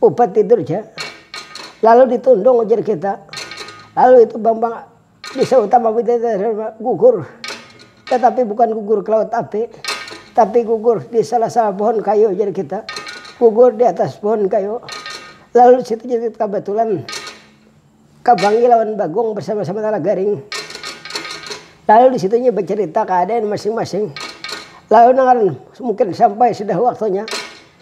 Upat tidur ja. Lalu ditundung ujar kita. Lalu itu Bambang bisa utama Widadara gugur. Tetapi bukan gugur ke laut api. Tapi gugur di salah salah pohon kayu ujar kita. Gugur di atas pohon kayu. Lalu di situ jadi kabatulan Kabangi lawan Bagong bersama sama Nala Garing. Lalu di situ nya becerita keadaan masing masing. Lalu nang ngaran mungkin sampai sudah waktunya.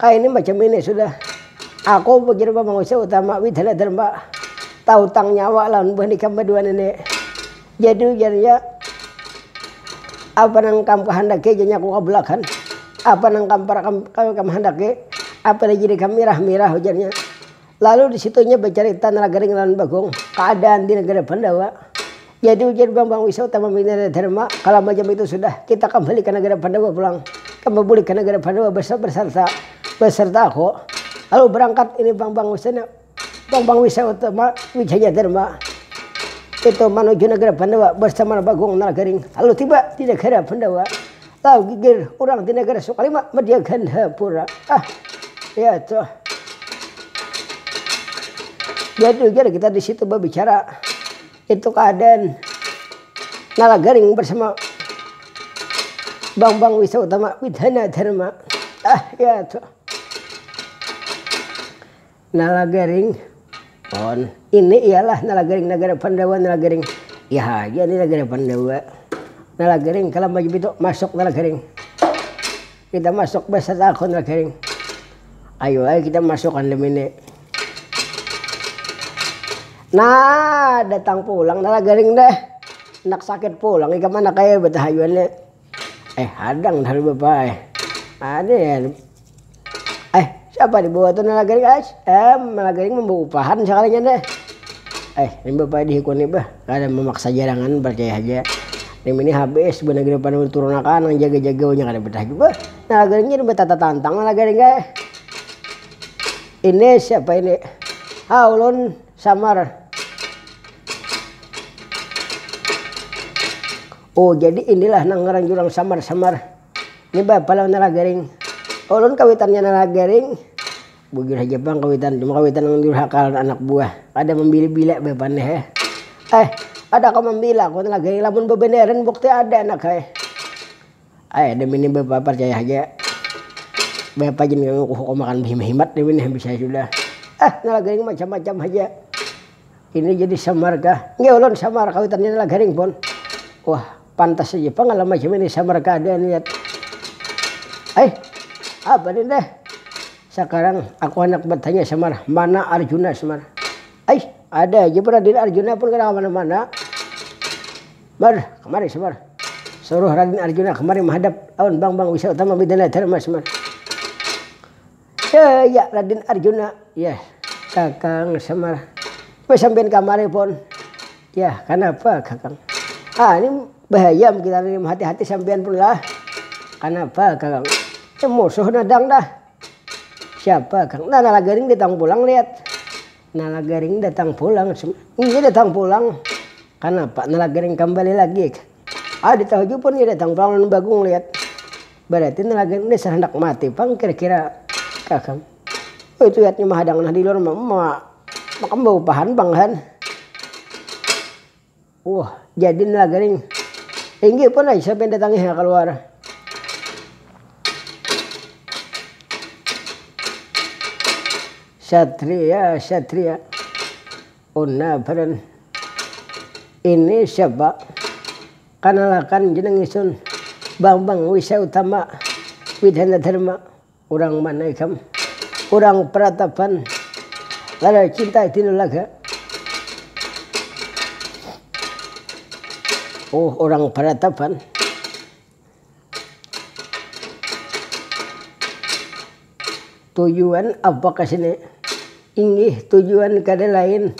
Ka ini macam ini sudah. Aku pikir ba manusia utama wih dalam dalam ba tautang nyawa lawan buhan ikam badua nini. Jadi ujarnya apa nang ikam kahandaki haja nyaku kabulakan. Apa nang kam parak kam kawi kam handaki. Apa lagi jadi kam mirah mirah ujarnya. Lalu di situ inya bacarita Nalagaring lawan Bagong kaadaan di nagara Pandawa. Jadi ujar Bambang Wisa utama bini Raja Dharma, Kalau macam itu sudah, kita kambali ka nagara Pandawa pulang. Kamba bulik ka nagara Pandawa bersarta beserta aku. Lalu berangkat ini Bambang Wisa dan Bambang Wisa utama Wijaya Dharma itu manuju nagara Pandawa bersama Bagong Nalagaring. Lalu tiba di nagara Pandawa, Tahu gigir urang di nagara Sukalima Media Gandapura. Ah, ya tuh. Jadi ujar kita di situ berbicara itu keadaan Nalagaring bersama Bang Bang Wisa Utama Widhana Dharma. Ah, ya tuh. Nalagaring, pon. Ini ialah Nalagaring nagara Pandawa Nalagaring iya haja ni nagara Pandawa. Nalagaring kalam baju pitu masuk Nalagaring. Kita masuk beserta aku Nalagaring. Ayu ai kita masuk andam ini. Nah datang pulang Nalagaring deh. Handak sakit pulang ikam anak ai betahayuan ni. Eh hadang talu bapak eh ada ya eh siapa di bawah tuh nala garing ais eh nala garing mah baupahan sakalinya deh eh ini bapak di hikun ni bah kada mamaksa jarangan parcaya haja nim ini habis buhannya gin pada turun akan nang jaga jaga wanya kada betah jua bah nala garing jadi batata tantang nala garing eh ini siapa ini ha ulun samar. Oh jadi inilah nang ngaran jurang samar-samar ni bah palang nalagaring. Ulun kawitannya nalagaring. Bujur haja pang kawitan, cuma kawitan nang durhaka lawan anak buah. Kada mambila-bila bah pan he. Eh, kada kawa mambila aku nalagaring lamun babanaran bukti ada anak he. Ai ada mini bapa parcaya haja. Bapa gin nang kuhukumakan bahimat-himat nih win, bisa sudah. Eh nalagaring macam-macam haja. Ini jadi samar kah? Nggih ulun samar kawitan ini lah garing pun. Wah pantas haja pang alam macam ini samar kah ada niat. Ai apa ni dah. Sakarang aku handak batanya samar mana arjuna samar. Ai ada haja pun raden arjuna pun kada kamana mana. Mar kamari samar. Suruh raden arjuna kamari mahadap lawan bang bang wisa utama widana dharma samar. Yaa Raden Arjuna, yah kakang Semar apa sampiyan kamari pon, yah kanapa kakang haa ni bahayam kita ni mahati-hati sampiyan pun lah, kanapa kakang ni musuh nadang dah, siapa kang nah Nalagaring datang pulang lihat, Nalagaring datang pulang cuma iya datang pulang, kanapa Nalagaring kambali lagi, kada tahu jua pon iya datang pulang lawan Bagong lihat. Barati nalagan ini dasar handak mati pang kira-kira kah kam. Oh itu yatnya mahadang nah diluar makam baupahan pang kan. Wah jadi nalaganing inggih pun ai siapa yang datangi ha kaluar. Satria satria una badan ini siapa. Kanalakan jeneng isun, Bambang Wisa Utama, Widana Dharma, urang mana ikam? Urang Pratapan, Lalai Cinta Tinulaga. Oh urang Pratapan. Tujuan apa kesini? Inggih tujuan kada lain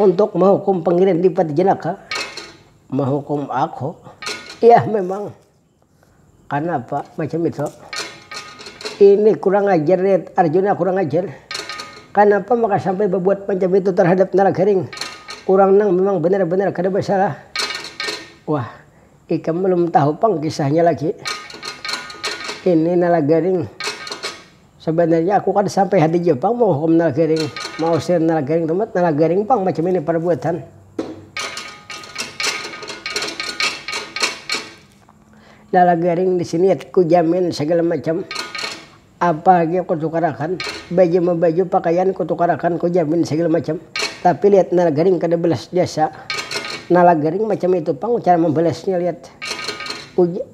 untuk mahukum Pangeran Dipati Jenaka. Mahukum aku yah memang kanapa macam itu ini kurang ajar nih arjuna kurang ajar kanapa maka sampai babuat macam itu terhadap nalagaring urang nang memang benar-benar kada basalah wah ikam belum tahu pang kisahnya lagi ini nalagaring. Sabanarnya aku kada sampai hadija pang mahukum Nalgaring, mausir Nalgaring tumat Nalagaring pang macam ini parbuatan. Nalagaring di sini ku jamin sagala macam apa lagi ku tukarakan, baju mabaju pakaian ku tukarakan ku jamin sagala macam tapi lihat Nalgaring kada balas jasa. Nalagaring macam itu pang cara mambalasnya lihat. Ujar.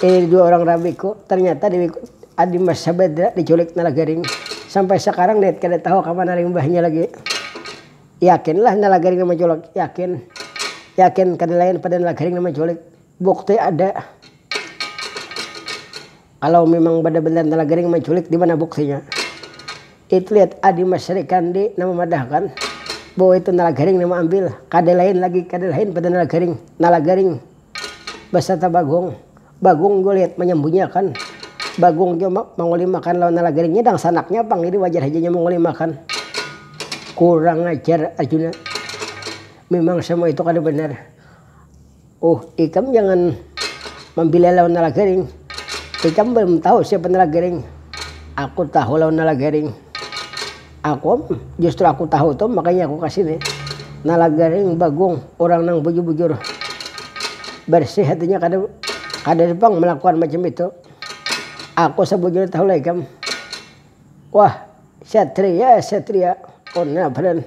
Ini dua urang rabiku, ternyata dewiku adi mas sabadra diculik nalagaring, sampai sakarang dewit kada tahu kamana limbahnya lagi, yakin lah nalagaring nang manculik, yakin, yakin kada lain pada nalagaring nang manculik, bukti ada, kalau memang bada banar nalagaring manculik dimana buktinya, itu lihat adi mas rikandi nang mamadahkan bahwa itu nalagaring nang maambil, kada lain lagi, kada lain pada nalagaring, nalagaring. Basarta Bagong. Bagong gulit manyambunyiakan. Bagong jua mangulimakan lawan nalagarinya dangsanaknya pang jadi wajar haja inya mangulimakan. Kurang ajar Arjuna. Mimang samua itu kada banar. Uh ikam jangan mambila lawan nalagaring. Ikam balum tahu siapa nalagaring. Aku tahu lawan nalagaring. Akum, justru aku tahu tu makanya aku kasini. Nah lagaring bagung urang nang bujur bujur bersih hatinya kada kada ada pang melakuan macam itu. Aku sabujurnya tahu lah ikam. Wah, satria satria, oh nah padan.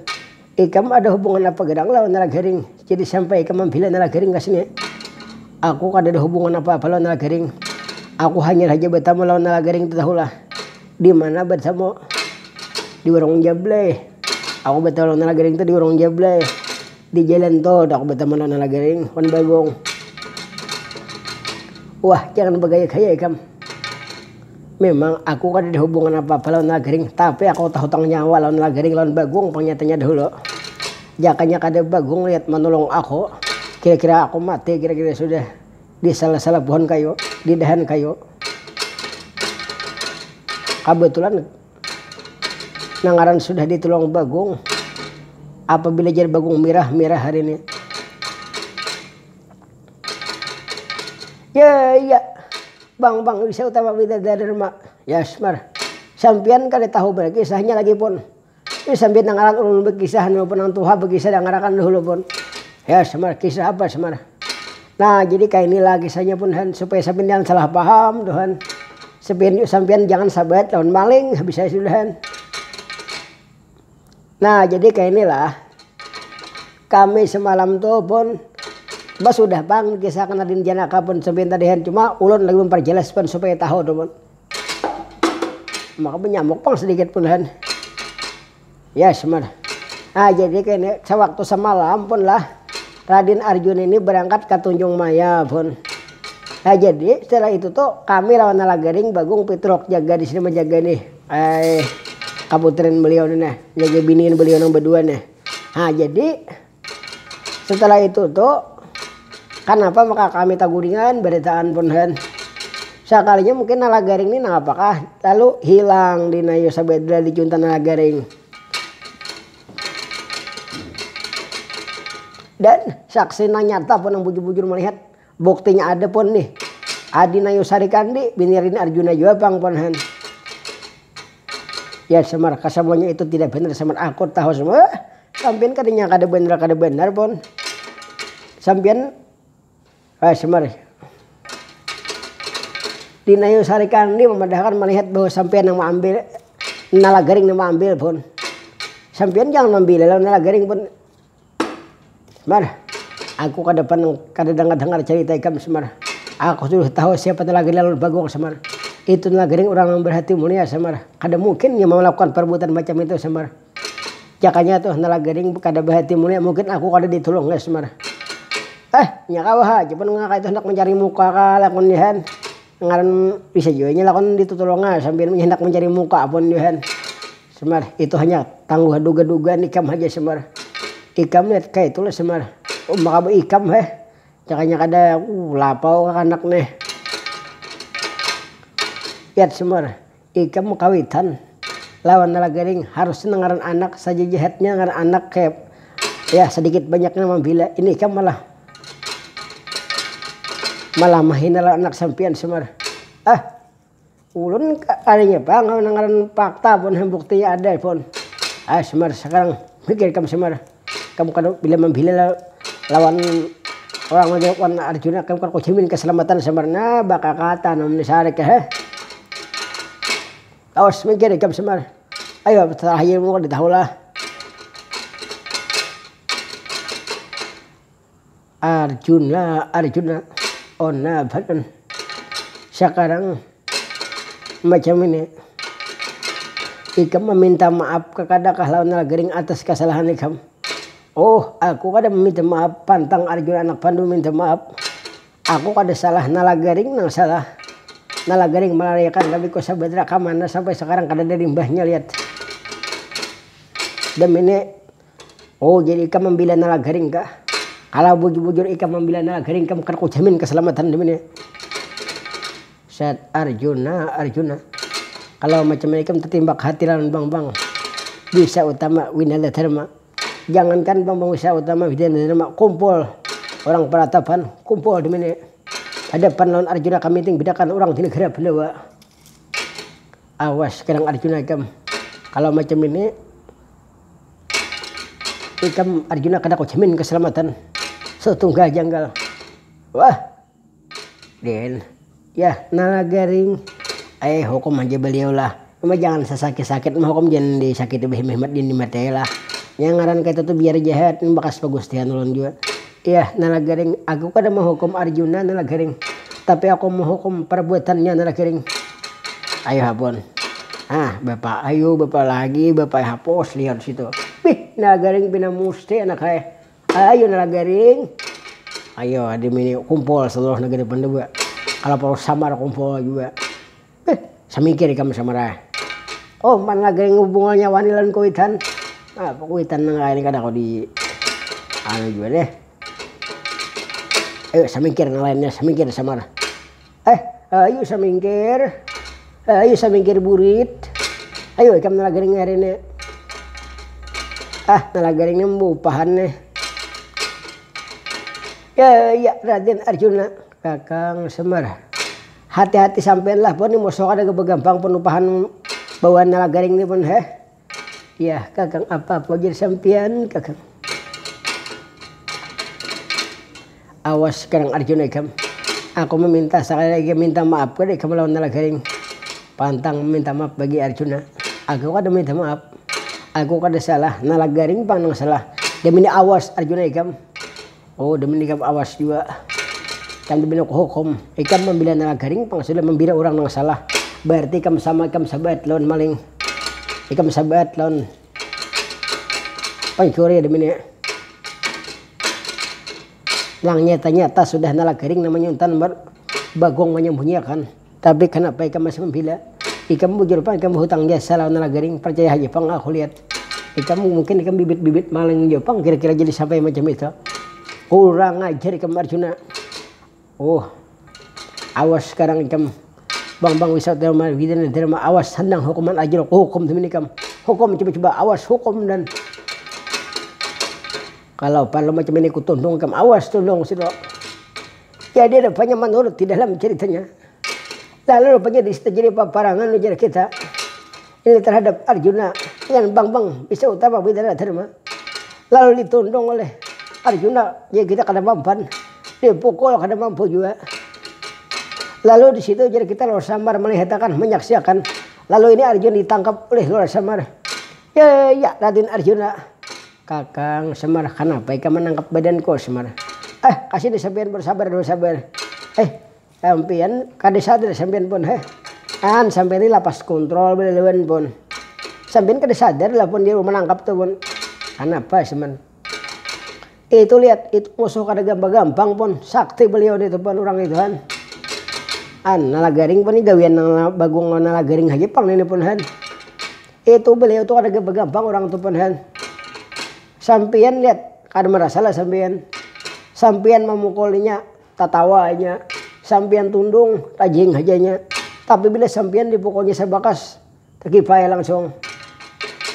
Ikam ada hubungan apa gedang lawan Nalagaring, jadi sampai ikam mambela Nalagaring ka sini? Aku kadada hubungan apa-apa lawan Nalagaring. Aku hanyar haja batamu lawan Nalagaring tu tahu lah. Di mana batamu? Di warung Jablay. Aku batahu lawan Nalagaring tu di warung Jablay. Di jalan tol tu aku batamu lawan Nalagaring wan Bagong. Wah, jangan bagaya-gaya ikam. Mimang aku kadada hubungan apa-apa lawan Lagering, tapi aku tahutang nyawa lawan Lagering lawan Bagong pang nyatanya dahulu. Jakanya kada Bagong liat manulung aku, kira-kira aku mati kira-kira sudah di salah-salah pohon kayu, di dahan kayu. Kabetulan nang ngaran sudah ditulung Bagong, apabila jar Bagong mirah, mirah hari ini. Yaya, bang bang bisa utama bidadari rma, yasmar, sampiyan kada tahu banar kisahnya lagipun, ih sampiyan dangaran ulun bakisah anu pun nang tuha bakisah dangarakan dahulu pun, yasmar, kisah apa smar, nah jadi kainilah kisahnya pun han supaya sampiyan jangan salah paham tu han, sampiyan sampiyan jangan sabaet lawan maling habis saya sudah han. Nah jadi kaya inilah, kami semalam tu pun basudah pang kisah kena din janaka pun sepian tadi hen cuma ulun lagi memperjelas pun supaya tahu tu pun maka benyamuk pang sedikit pun hen yes man nah jadi kaya ini sewaktu semalam pun lah Radin Arjuna ini berangkat ke Tunjung Maya pun nah jadi setelah itu tu kami lawan Nala Garing Bagung Pitruk jaga di sini menjaga ini. Ai kaputrin beliau nih nah, jaga biniin beliau nang badua nih. Nah jadi setelah itu tu kanapa maka kami taguringan baritaan pun kan. Sakalinya mungkin Nala Garing nih nangapakah lalu hilang di Nayu Sabedra di Junta Nala Garing. Dan saksi nang nyata pun nang bujur-bujur malihat. Buktinya ada pun nih, Adi Nayusari Kandi, bini Rini Arjuna jua pang pun han. Ya Semar, kasamuanya itu tidak benar Semar, aku tahu Semar. Wah, sampian katanya kada benar kada benar pun. Sampian, wah Semar. Di Nayusari Kandi memadahkan melihat bahwa sampian nang maambil nala garing nang maambil pun. Sampian jangan mambila lawan nala garing pun. Mar, aku kada pernah kada dangar-dangar carita ikam Semar, aku sudah tahu siapa talaga Lalun Bagong Semar, itu nagering urang nang berhati mulia Semar, kada mungkin inya malakukan perbuatan macam itu Semar, jakanya tuh nalagering kada berhati mulia mungkin aku kada ditulungnya Semar, eh inya kawa ha aja pang kaya itu handak mencari muka kah lakun Johan, ngaran bisa jua inya lakun ditutulungnya sambil handak mencari muka pun Johan. Semar, Itu hanya tangguh duga-dugaan ikam haja Semar. Ikam ni kaitu lah Semar. Umm makabu ikam heh. Jakanya kada lapau kakanak nih. Yat Semar, Ikam makawitan lawan Nala Garing harus nang ngaran anak sajajahatnya ngaran anak kaya ya sadikit banyaknya mambila. Ini ikam malah malah mahina lawan anak sampiyan Semar. Ah. Ulun kada ingat pang nang ngaran fakta pun nang bukti ada pun. Ai Semar sakarang mikir ikam Semar, ikam kada bila mambila lawan orang lagi wan Arjuna ikam kada kujamin kasalamatan Semar nah bakakatan am ni sarik he. Awas mikir ikam Semar, ayo tarakhir mun kada tahulah. Arjuna arjuna onna badan sakarang macam ini ikam meminta maaf kekadakah lawan nalagering atas kesalahan ikam oh aku kada meminta maaf pantang arjuna anak pandu minta maaf aku kada salah nalagaring nang salah nalagaring melariakan rabiku sabadra kamana sampai sakarang kadada limbahnya lihat demi ni. Oh jadi ikam mambila nalagaring kah? Kalau bujur-bujur ikam mambila nalagaring kam kada kujamin kasalamatan dimini. Set Arjuna Arjuna kalau macam ini ikam tatimbak hati lawan Bambang Wisa Utama Winanda Dharma. Jangankan Bambang Wisa Utama Winanda Dharma, kumpul orang peratapan kumpul dimini hadapan lawan Arjuna kami ting bedakan orang di negara Bandawa. Awas kadang Arjuna ikam kalau macam ini. Ikam Arjuna kada kujamin kasalamatan satunggal janggal. Wah. Den. Yah, nala garing. Ai, hukum haja baliau lah. Cuma jangan sasakit-sakit mahukum jangan disakiti bahimat-himat dinimat ai lah. Nya ngaran kayatu tu biar jahat, imbah kas pagustihan ulun jua. Iyah, Nalagering, aku kada mahukum Arjuna, Nalagering, tapi aku mahukum parbuatannya, Nalagering. Ayuh hapun. Hah, bapa ayuh, bapa lagi, bapa ai hapus, lihat disitu. Bih, Nalagering pina musti anak ai. Ayu Nalagering. Ayu, dimini kumpul saluruh nagari Pandawa. Kalaupau samar kumpul jua. Beuh, samikir ikam samarah. Oh, umpan lagaing hubungannya wani lawan kuitan. Nah, kuitan nang kaya ini kada kawa di anu jua deh. Ayo samingkir nang lainnya, samingkir samar. Eh, ayo samingkir. Eh, ayo samingkir burit. Ayo ikam nala garing hari ini. Ah, nala garing ini membupahan nih. Ya, ya, Raden Arjuna. Kakang Semar. Hati-hati sampean lah pon ni moso kada ga bagampang penumpahan bawaan nala garing ni pon heh. Yah kakang apa-apa jar sampean kakang. Awas karang arjuna ikam. Aku meminta sakali lagi ikam minta maaf kada ikam lawan nala garing. Pantang meminta maaf bagi arjuna. Aku kada meminta maaf. Aku kada salah nala garing pang nang salah. Damini awas arjuna ikam. Oh demi ikam awas jua ikam tu banyak hukum ikam mambila nala garing pang sudah mambira urang nang salah bararti ikam sama ikam sabaat lawan maling ikam sabaat lawan pancuri demi nih nang nyata nyata sudah nala garing namanya untan bagong manyambunyi akan. Tapi kanapa ikam masih mambila? Ikam bujur pang ikam bahutang jasa lawan nala garing, parcaya haja pang aku lihat ikam mungkin ikam bibit-bibit maling jua pang kira-kira jadi sampai macam itu. Kurang ajar ikam Arjuna. Huh. Awas sekarang ikam Bambang Wisatyawarman Widyanadharma awas sandang hukuman ajruk hukum demi ikam. Hukum coba-coba awas hukum dan kalau parlu macam ini kutundung ikam awas tundung situ. Jadi rupanya manurut di dalam ceritanya, lalu rupanya di situ jadi paparangan ujar kita ini terhadap Arjuna dengan Bambang bisa utama Widara Dharma. Lalu ditundung oleh Arjuna, ya kita kada mampan, dipukul kada mampu jua. Lalu di situ jadi kita Lor Samar melihatakan, menyaksiakan. Lalu ini Arjuna ditangkap oleh Lor Samar. Ya, ya, Raden Arjuna. Kakang, Semar, kanapa ikam manangkap badanku? Semar, eh kasini sampiyan pun sabar dulu sabar, eh sampiyan kada sadar sampiyan pun heh, an sampiyan ni lapas kontrol balalawan pun, sampiyan kada sadar lah pun diawi manangkap tu pun, kanapa? Semar, itu lihat itu musuh kada gampang gampang pun, sakti baliau nitu pun urang itu han, an nalagaring pun ni gawian nang bagong lawan nalagaring haja pang ini pun han. Itu beliau tu kada gampang gampang urang tu pan han. Sampiyan lihat kada marasa lah sampiyan. Sampiyan mamukul inya tatawa inya, sampiyan tundung tajing haja inya. Tapi bila sampiyan dipukulnya sabakas takipai langsung.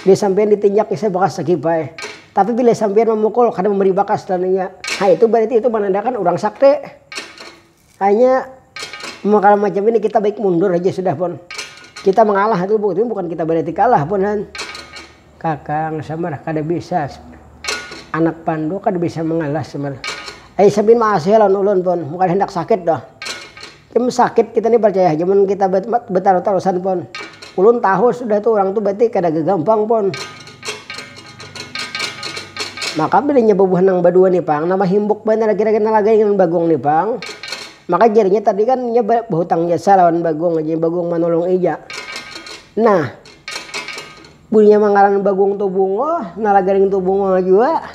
Bila sampiyan ditinjaknya sabakas takipai. Tapi bila sampiyan mamukul kada mambari bakas lawan inya. Ha itu berarti itu manandakan urang sakti. Hanya kalau macam ini kita baik mundur aja sudah pon. Kita mengalah itu bu, itu bukan kita berarti kalah pon han. Kakang samar kada bisa anak pandu kada bisa mengalah samar. Ai sabin maasih lawan ulun pon, mun kada handak sakit doh. Mun sakit kita ni percaya haja mun kita betarus-tarusan pon. Ulun tahu sudah tu orang tu berarti kada gagampang pon. Maka bilanya bubuhan nang badua nih pang, nang mahimbuk banar lagi lagi nang lagai lawan bagong nih pang, maka jarinya tadi kan inya bahutang jasa lawan bagong lagi, bagong manolong ija. Nah bulinya mangaran bagong tuh bungo, nang lagaring tuh bungo jua,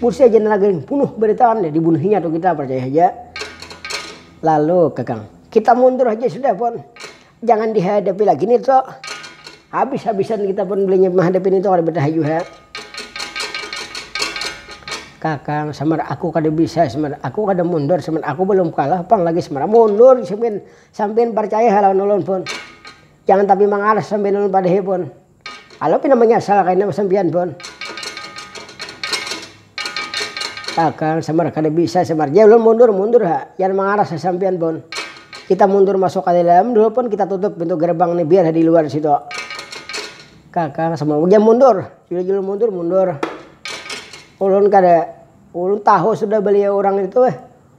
busi aja nang lagaring bunuh baritaan jadi dibunuh inya tuh kita parcaya haja. Lalu kakang, kita mundur haja sudah pon. Jangan dihadapi lagi nih to. Habis-habisan kita pun belinya menghadapi nih to kada betahayu ha. Kakang samar aku kada bisa samar aku kada mundur samar aku balum kalah pang lagi samar mundur sampian sampian parcaya ha lawan ulun pun jangan tapi mangaras sampian ulun padahi pun. Kalau pina manyasal kaina sampiyan pun. Tagal, samar kada bisa samar. Jar ulun mundur, mundur ha. Jangan mangaras ha sampiyan pun. Kita mundur masuk ka dalam dulu pun kita tutup pintu gerbang ni biar ha di luar situ. Kakang samar, jar mundur. Sudah jar ulun mundur, mundur. Ulun kada, ulun tahu sudah baliau urang itu.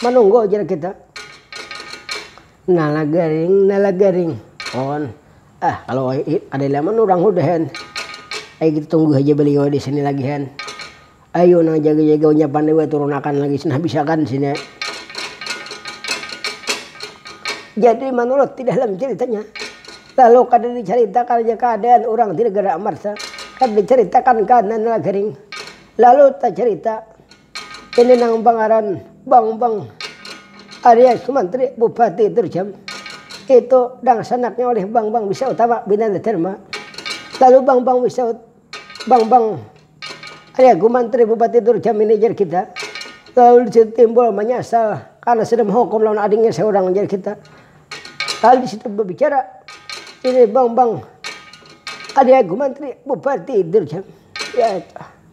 manunggu jar kita. Nala garing nala garing on ah kalo kada ilaman urang hudah yan ayu kita tunggu haja baliau disini lagi yan ayu nang jaga jaga unya pandai weh turun akan lagi sudah habis akan sini. Jadi manurut di dalam ceritanya kalo kada di caritakan aja keadaan urang di negara amarta kada di caritakan keadaan nala garing lalu tacarita. Ini nang bangaran Bongbong alias Manteri Bupati Terjam. Itu dangsanaknya oleh Bambang Wisa Utama Binanda Dharma. Lalu Bambang Wisa Bambang aliaku Manteri Bupati Terjam ini jar kita. Lalu disitu timbul manyasal karena sudah menghukum lawan adingnya seorang jar kita. Lalu disitu berbicara ini Bambang aliaku Manteri Bupati Terjam. Ya itu.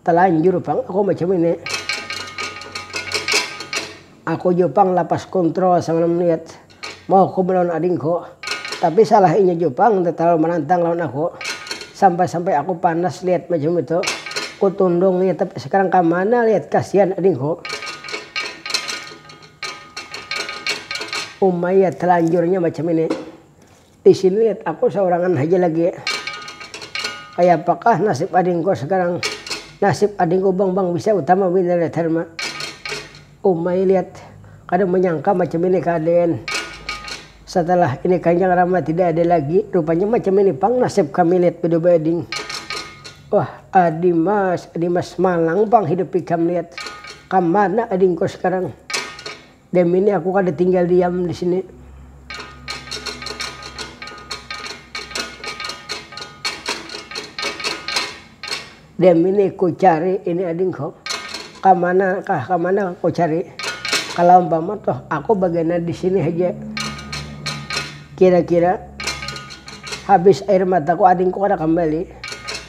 Talanjur pang aku macam ini. Aku jua pang lapas kontrol sambil melihat mauku melawan adingku. Tapi salah inya jua pang nda talalu manantang lawan aku. Sampai-sampai aku panas lihat macam itu. Ku tundung inya tapi sekarang kamana lihat kasihan adingku. Uma iya talanjurnya macam ini. Di sini aku saurangan haja lagi. Kayapakah nasib adingku sakarang? Nasib adingku Bangbang bisa utama Winaryadarma. Umai lihat, kada manyangka macam ini kaadaian. Satalah ini Kanjang Rama tidak ada lagi, rupanya macam ini pang nasib kami lihat badubai ading. Wah, adimas, adimas malang pang hidup ikam lihat. Kamana adingku sakarang? Dem ini aku kada tinggal diam disini. Dem ini ku cari ini ading ko. Kamana kah kamana kah ku cari. Kalau umpama toh aku bagana disini haja. Kira kira habis air mataku adingku kada kambali.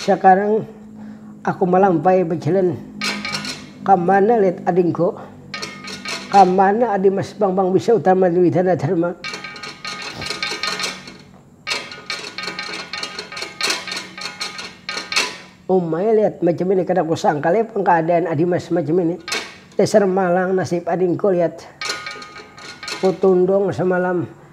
Sakarang aku malampai bajalan kamana lihat adingku, kamana adi mas bambang bisa utama dwi dana dharma. Umai lihat macam ini kada kusangka leh pang kaadaan adi mas macam ini. Dasar malang nasib adingku lihat kutundung samalam.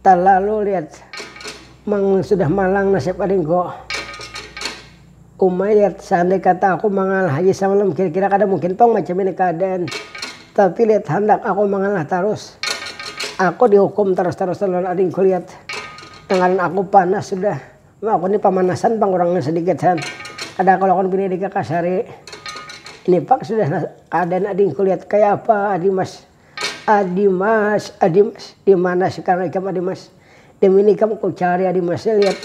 Talalu liat mang sudah malang nasib ading ko. Uma liat seandai kata aku mangalah haja samalam kira kira kada mungkin pang macam ini keadaan. Tapi liat handak aku mangalah tarus. Aku di hukum tarus tarusan lawan ading ko liat. Tangaran aku panas sudah. Uma aku ni pamanasan pang urang nya sedikit han. Kada aku lakukan bini ading kakasari. Ini pang sudah keadaan ading ko liat kaya apa adimas. Adimas, Adimas, dimana sekarang ikam Adimas? Demi ini ikam kucari Adimas nih lihat.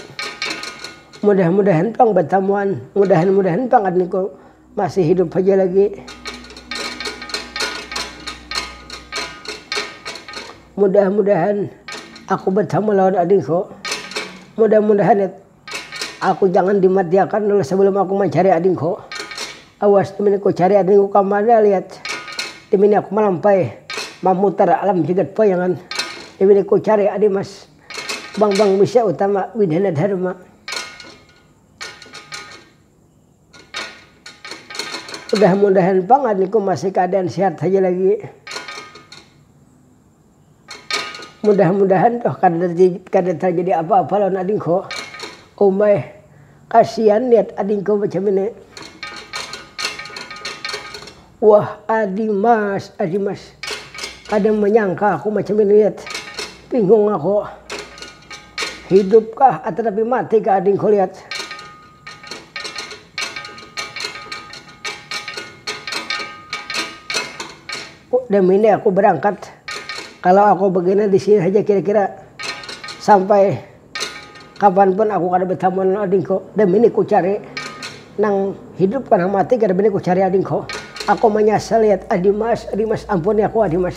Mudah-mudahan pang batamuan, mudahan-mudahan pang adingku masih hidup haja lagi. Mudah-mudahan aku batamu lawan adingku, mudah-mudahan. Aku jangan dimatiakan dulu sebelum aku mancari adingku. Awas dimini ku cari adingku kamana liat dimini aku malampai mamutar alam jagat payangan dimini ku cari adi mas bambang misia utama widana dharma. Mudah mudahan pang adingku masih keadaan sehat haja lagi. Mudah mudahan tuh kada tarjadi apa apa lawan adingku. Umai, kasian liat adingku macam ini. Wah adimas adimas, kada manyangka aku macam ini liat, bingung aku. Hidupkah atanapi matikah adingku liat. Dem ini aku berangkat kalau aku begini di sini haja kira-kira sampai kapan pun aku kada betamuan lawan adingku dem ini ku cari nang hidup ka nang mati kada bini ku cari adingku aku manyasal lihat adimas adimas ampuni aku adimas.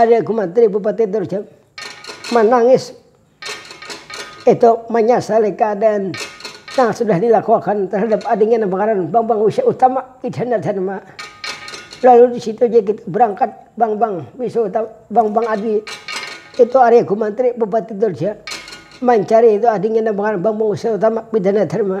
Hari aku mati bupati terus jap manangis itu manyasali keadaan nang sudah dilakuakan terhadap adingnya nang bangaran Bambang Wisya Utama Idhana Dharma. Lalu di situ ja kita berangkat Bambang Wisya Utama, Bambang Adi itu hari aku mati bupati Durja mancari itu adingnya nang bangaran Bambang Wisya Utama Idhana Dharma.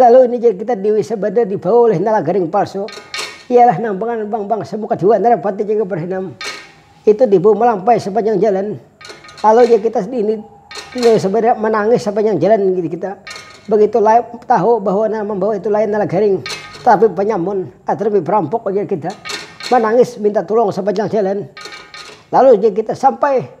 Lalu ini jar kita Dewi Sabada dibawa ulih Nala Garing Palsu, ialah nang panganan Bang Bangsa muka dua Narapati jaga Berhenam, itu dibawa malampai sapanjang jalan. Lalu jar kita ini Dewi Sabada manangis sapanjang jalan jar kita, begitu tahu bahwa nang mambawa itu lain Nala Garing, tapi panyamun atau lebih perampok ujar kita, manangis minta tulung sapanjang jalan. Lalu jar kita sampai.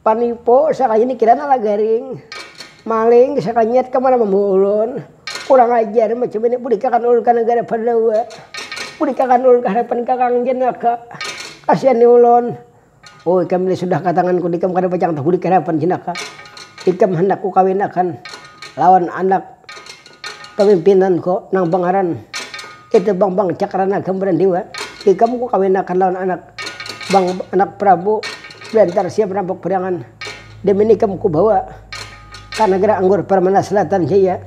panipu sakalinya dikira nala garing, maling sakalinya ka mana mambawa ulun, kurang ajar macam ini bulikakan ulun ka nagara pandawa, bulikakan ulun ka hadapan kakang jenaka, kasihani ulun, oh ikam ni sudah ka tanganku ni ikam kada pacang tahu bulik ka hadapan jenaka, ikam handak kukawinakan lawan anak. Pamimpinanku nang bangaran Itu Bambang Cakranaga Marandiwa, ikam kukawinakan lawan anak anak Prabu Bantar Sia Perampok Priangan, demi ikam kubawa ka nagara anggur Permana Selatan Jaya.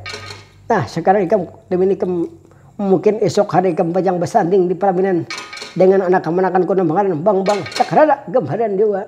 Nah, sekarang ikam demi ikam mungkin esok hari ikam pacang basanding di palaminan dengan anak kamanakanku nang bangaran Bambang Cakranaga Marandiwa.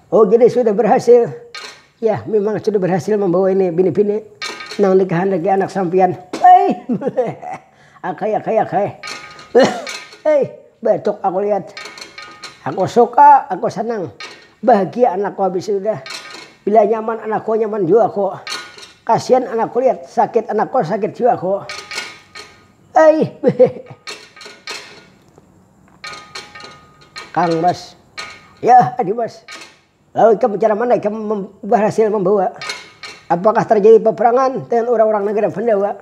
Oh jadi sudah berhasil. Ya memang sudah berhasil membawa ini bini-bini nang dikehendaki anak sampian. Hei, akai akai akai. Hei, batuk aku lihat. Aku suka, aku senang. Bahagia anakku habis sudah. Bila nyaman anakku nyaman jua aku. Kasihan anakku lihat sakit anakku sakit jua aku. Hei, Kang Mas, Yah Adi Mas, lalu ikam cara mana ikam bahasil mambawa? Apakah tarjadi paparangan dengan urang-urang nagara Pandawa?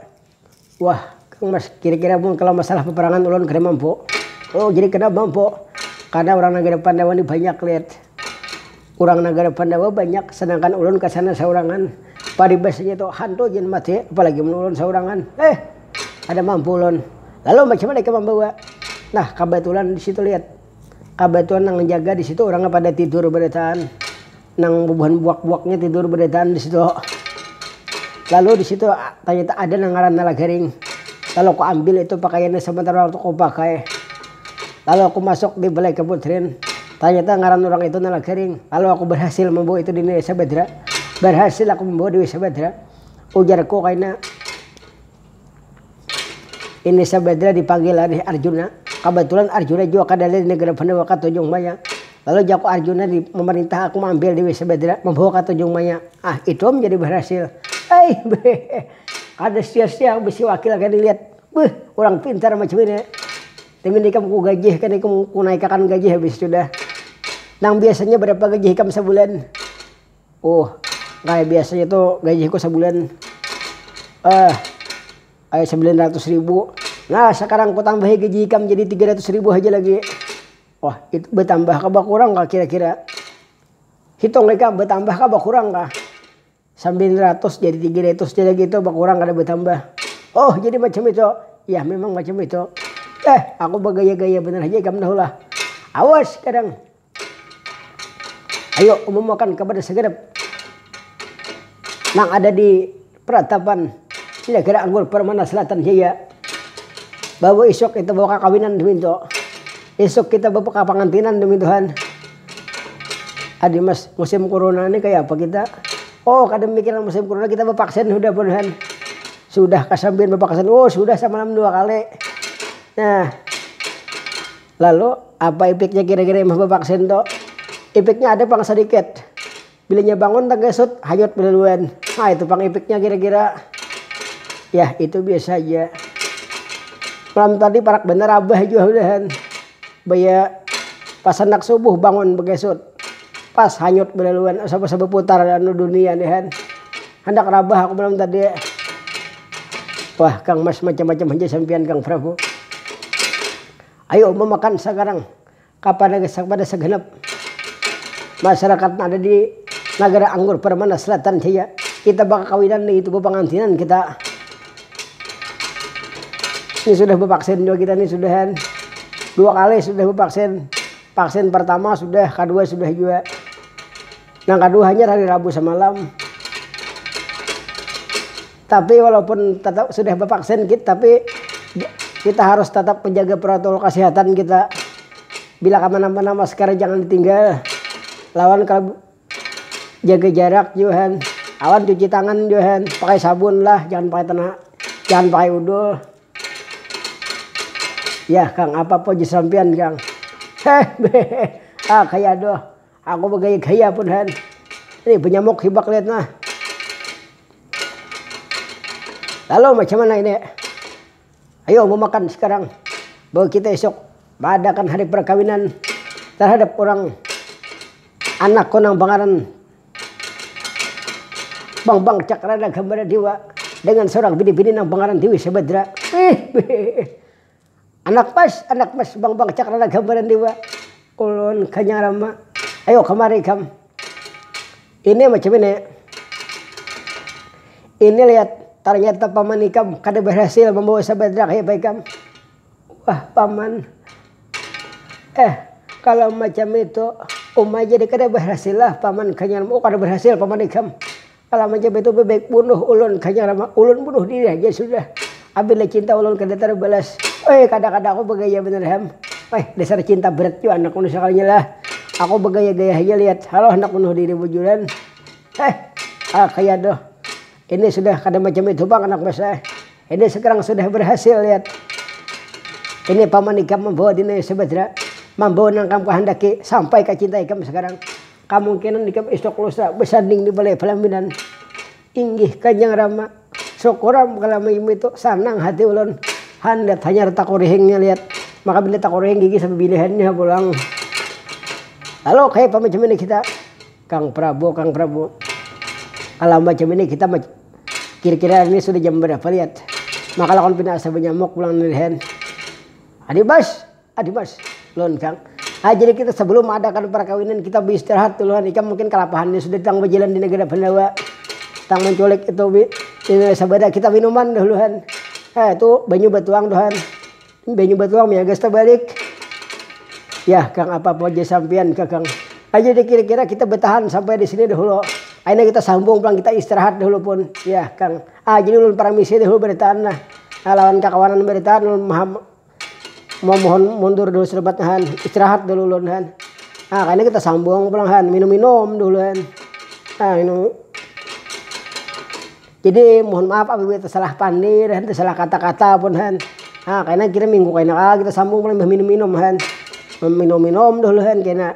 Wah Kang Mas, kira-kira mun kalau masalah paparangan ulun kada mampu. Oh jadi kada mampu? Karena urang nagara Pandawa ni banyak Lid. Urang nagara Pandawa banyak, sedangkan ulun ka sana saurangan. Paribasanya tu hantu gin mati, apalagi mun ulun saurangan. Heh! Kada mampu ulun. Lalu macam mana ikam mambawa? Nah, kabatulan di situ lihat. Kabatulan nang manjaga di situ urangnya pada tidur barataan. Nang bubuhan buak-buaknya tidur barataan di situ. Lalu di situ tanyata ada nang ngarannya Lagaring. Lalu ku ambil itu pakaiannya samentara waktu ku pakai. Lalu aku masuk di balai kaputrin. Tanyata ngaran urang itu Nala Kering. Kalo aku barhasil mambawa itu di Desa Badra, barhasil aku mambawa Dewi Sabadra, ujarku kaina. Ini Sabadra dipanggil nih Arjuna. Kabatulan Arjuna jua kada ada di nagara Pandawa ka Tanjung Maya. Lalu jaku Arjuna di mamarintah aku maambil Dewi Sabadra mambawa ka Tanjung Maya. Ah, itu am jadi barhasil. Aih, beuh. Kada sia-sia bisi wakil kaya dilihat. Beuh, urang pintar macam ini. Timin ikam ku gajihkan ikam ku naikakan gaji habis itu dah. Nang biasanya barapa gaji ikam sabulan? Uh, kaya biasanya tu gajiku sabulan eh kaya sambilan ratus ribu. Nah, sakarang ku tambahi gaji ikam jadi tiga ratus ribu haja lagi. Oh, itu batambah kah bakurang kah kira-kira? Hitung ikam batambah kah bakurang kah? Sambilan ratus jadi tiga ratus ja lagi tu bakurang kada batambah. Oh jadi macam itu. Yah memang macam itu. Eh aku bagaya-gaya banar haja ikam tahu lah. Awas kadang. Ayo umumakan kapada sagenap nang ada di peratapan Negara Anggur Permana Selatan Jaya bahwa isuk kita bawa kakawinan dumintu. Isuk kita bapakapangantinan dumintu han. Adi mas, musim kuruna ni kaya apa kita? Oh kada mamikiran musim kuruna kita bapaksin sudah buhan. Sudah kasambian bapaksin, oh sudah samalam dua kali. Nah, lalu apa ipiknya kira-kira imbah bapaksin tu? Ipiknya ada pang sadikit, Bila inya bangun tagesut, hanyut belaluan. Nah itu pang ipiknya kira-kira. Yah itu biasa haja. Malam tadi parak banar abah jua udahan. Baya pas handak subuh bangun bagesut. Pas hanyut belaluan asa basa baputar anu dunia nih han. Handak rabah aku malam tadi. Wah kang mas macam-macam haja sampiyan kang prabu. Ayu uma makan sakarang. Kapada gasak pada saganap masarakat nang ada di Nagara Anggur Permana Selatan jaya. Kita bakakawinan lagi tu bapangantinan kita. Ini sudah bevaksin jua kita ni sudah kan. Dua kali sudah bevaksin. Vaksin pertama sudah, kadua sudah jua. Nang kadua hanyar hari Rabu samalam. Tapi walaupun tetap sudah bevaksin kit tapi kita harus tetap menjaga protokol kesehatan kita bila kemana-mana masker jangan ditinggal lawan kalau jaga jarak jua han awan cuci tangan jua han pakai sabun lah jangan pakai tena jangan pakai udol yah kang apa pojis sampian kang heh beh ah kaya doh. Aku bagaya-gaya pun han. Nih banyamuk hibak liat nah. Lalu macam mana ini? Ayo memakan sekarang. Bahwa kita esok maadakan hari perkawinan terhadap orang anakku nang bangaran Bambang Cakrana Gambara Dewa dengan seorang bini-bini nang bangaran Dewi Sabadra. Ih. Anak mas, anak mas bang bang cakrana gambaran jua. Ulun kanya rama, ayo kamari ikam. Ini macam ini, ini lihat tarnyata paman ikam kada barhasil mambawa sabadrak ya pa ikam. Wah paman, eh kalo macam itu uma jadi kada barhasillah paman kanya rama, oh kada barhasil paman ikam. Kala mancap itu bebek bunuh ulun kanya rama ulun bunuh diri haja sudah abila cinta ulun kada terbalas weh kada kada aku begaya banar ham weh dasar cinta berat jua anak bunuh sekalinya lah aku begaya gaya haja lihat halo handak bunuh diri bujuran heh ah kaya aduh ini sudah kada macam itu pang anak mas eh ini sekarang sudah berhasil lihat ini paman ikam membawa dinaya subadra membawa nang kam kehendaki sampai ka cinta ikam sekarang. Kamungkinan ikam isuk lusa basanding di Balai Palaminan. Inggih Kanjang Rama, syukuram kalo maimu itu sanang hati ulun. Handat hanyar takurihingnya liat. Maka bila takurihing gigi sapabilihannya ha pulang. Lalu kaya apa macam ini kita? Kang Prabu, Kang Prabu. Kalo macam ini kita kira-kira ini sudah jam barapa liat? Maka lakon pina asa banyamuk pulang nilihan. Adibas! Adi mas, lun kang. Ay jadi kita sebelum adakan perkawinan kita beistirahat dulu han, ikam mungkin kalapahan ni sudah tang bejalan di negara Pandawa, tang menculik itu bi ini sabada kita minuman dahulu han, eh itu banyu batuang tu han, banyu batuang miagas tabalik, yah kang apa pun jar sampian ka kang, ay jadi kira-kira kita betahan sampai di sini dahulu, ay nah kita sambung pulang kita istirahat dahulu pun, yah kang, ah jadi ulun paramisi dahulu berataan nah lawan kakawanan berataan ulun Mamohon mundur dulu serebat han istirahat dulu ulun han ah kayani kita sambung pulang han minum minum dulu han ah minum jadi mohon maaf apabila tesalah pandir han tesalah kata kata pun han ah kayana kita minggu kaina lagi kita sambung pulang imbah minum minum han minum minum dulu han kena.